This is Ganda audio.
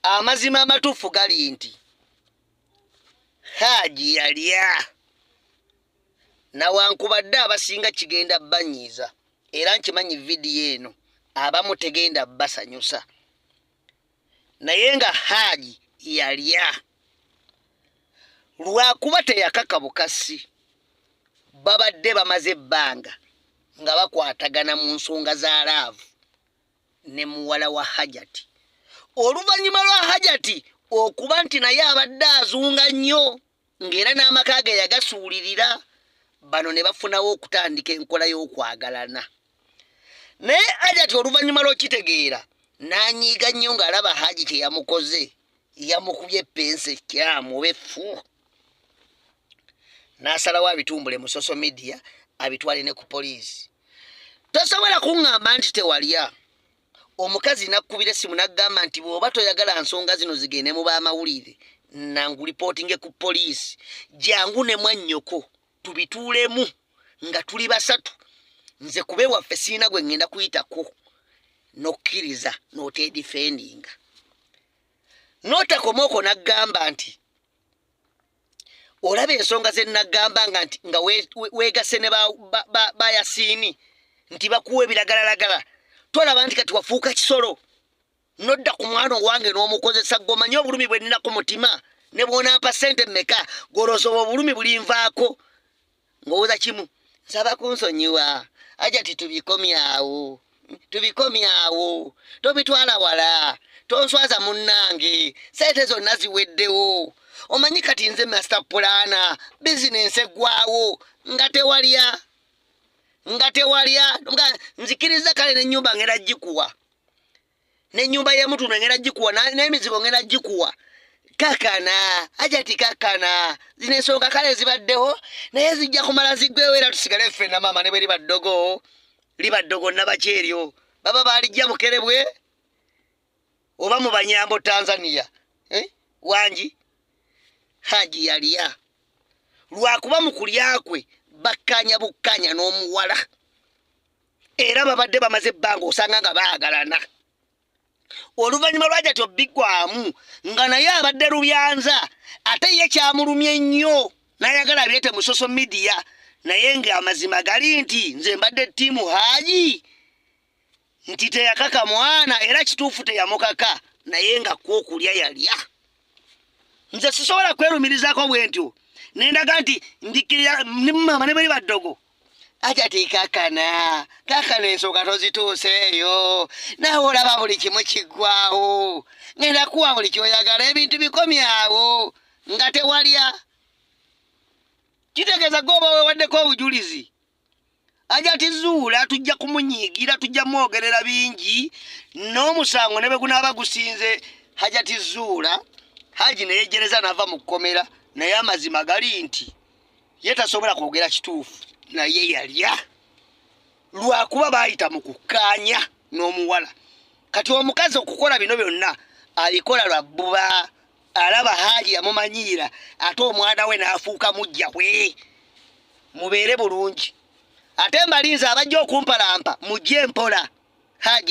Amazima amatuufu gali nti Haaji yalya nawankubadde abasinga kigenda banyiiza era nkimanyi vidiyo eno abamu tegenda basanyusa naye nga Haaji yalya lwakuba teyakaka bukasi babadde bamaze ebbanga nga bakwatagana mu nsonga za laavu ne muwala wa hajati oluvannyuma lwa hajati okuba nti naye abadde azunga nnyo ng'era n'amaka ge yagasuulirira bano ne bafunawo okutandika enkola y'okwagalana naye hajati oluvannyuma lw'okitegeera n'anyiiga nnyo ng'alaba haji kye yamukoze yamukubye epensi ekyamu oba effu n'asalawo abitumbule mu social media abitwale ne ku poliisi tosobola kuŋŋamba nti tewalya omukazi nakkubira essimu naggamba nti bw'oba toyagala nsonga zino zigende mu baamawulire nangu lipootinge ku poliisi jangu ne mwannyoko tubituulemu nga tuli basatu nze kuba ewaffe siina gwe ŋŋenda kuyitako n'okkiriza n'oteedifendinga n'otakomaoko naggamba nti olaba ensonga ze nagamba nga nti nga wegase ne bayasiini nti bakuwa ebiragalalagala tolaba nti kati wafuuka kisolo nodda ku mwana owange n'omukozesa gomanye obulumi bwe nnina ku mutima ne bwonampa ssente mmeka golozoba obulumi bulinvaako ngowoza kimu nsaba kunsonyiwa aja titubikomyawo tubikomyawo tobitwala wala tonswaza munnange sente zonna ziweddewo omanyi kati nze master pulana bizinensi eggwawo nga tewalya nga tewalya nga nzikiriza kale nenyumba ngera gikuwa nenyumba yemutundu engenda gikuwa nemizigo ngenda gikuwa kakana ajati kakana zino ensonga kale zibaddewo naye zijja kumala ziggwewo era tusigale ffe na maama ne bwe liba ddogo liba ddogo nabaki eryo baba baalijja bukerebwe oba mu banyambo tanzania eh? wangi haji yaliya lwakuba mu kulya kwe bakkanya bukkanya n'omuwala era babadde bamaze ebbanga osanga nga baagalana oluvannyuma lwajati obbigwamu nga naye abadde lubyanza ate ye kyamulumye nnyo nayagala abyete mu social media naye ng'amazima gali nti nze mbadde ttiimu haaji nti teyakaka mwana era kituufu teyamukaka naye nga kwokulya yalya nze sisobola kwerumirizaako bwentyo nendaga nti ndikkirira maama ne bali baddogo ajati kakana kakana ensonga tozituuseeyo nawe olaba buli kimu kiggwawo ngenda kuwa buli kyoyagala ebintu bikomyawo nga tewalya kitegeeza goba wewaddeko obujulizi aja tizuula tujja kumunyiigira tujja mwogerera bingi n'omusango ne bwe gunaaba gusinze haja tizuula haji neyejjereza nava mu kkomera naye amazima gali nti ye tasobola kwogera kituufu naye yalya lwakuba baayita mu kukkaanya n'omuwala kati omukazi okukola bino byonna abikola lwa bbuba alaba haaji yamumanyiira ate omwana we n'afuuka mujja we mubeere bulungi ate mbalinze abajja okumpalampa mujje mpola haaji